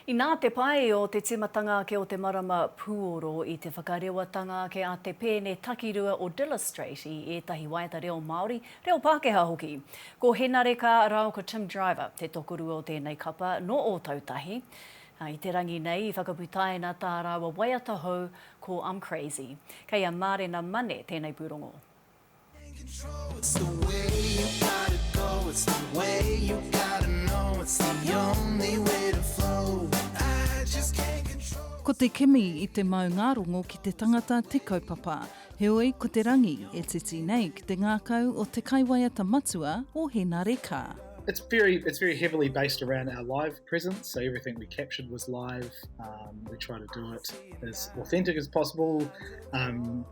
Inā te pai o te tīmatanga ake o te marama pūoro i te whakarewatanga ake a te pēne takirua o Dillustrate i ētahi waiata reo Māori, reo Pākehā hoki. Ko Henare Ka rao ko Tim Driver te tokorua o tēnei kapa nō Ōtautahi. I te rangi nei i whakaputaina tā rāua waiata hou ko I'm Crazy. Kei a Mārena Mane tēnei pūrongo. Ko te kimi i te maungārongo ki te tangata te kaupapa. Heoi, ko te rangi e titi nei ki te ngākau o te kaiwaiata matua o Henare Ka. It's very it's very heavily based around our live presence. So everything we captured was live. Um, we try to do it as authentic as possible. Um,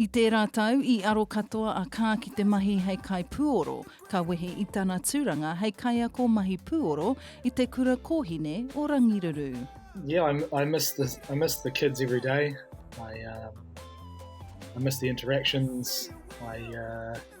I tērā tau, i aro katoa a Kaa ki te mahi hei kaipūoro, ka wehe i tana tūranga hei kaiako mahi pūoro i te kura kōhine o Rangiruru. Yeah, I'm, I miss the I miss the kids every day. I um, I miss the interactions. I uh,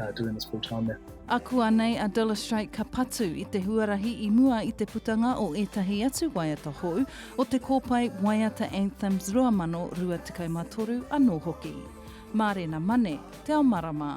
uh, doing this full time there. Akuanei a Dilys Straight ka patu i te huarahi i mua i te putanga o ētahi atu waiata hou o te kōpae Waiata Anthems 2023 anō hoki. Mārena Mane, Te Ao Marama.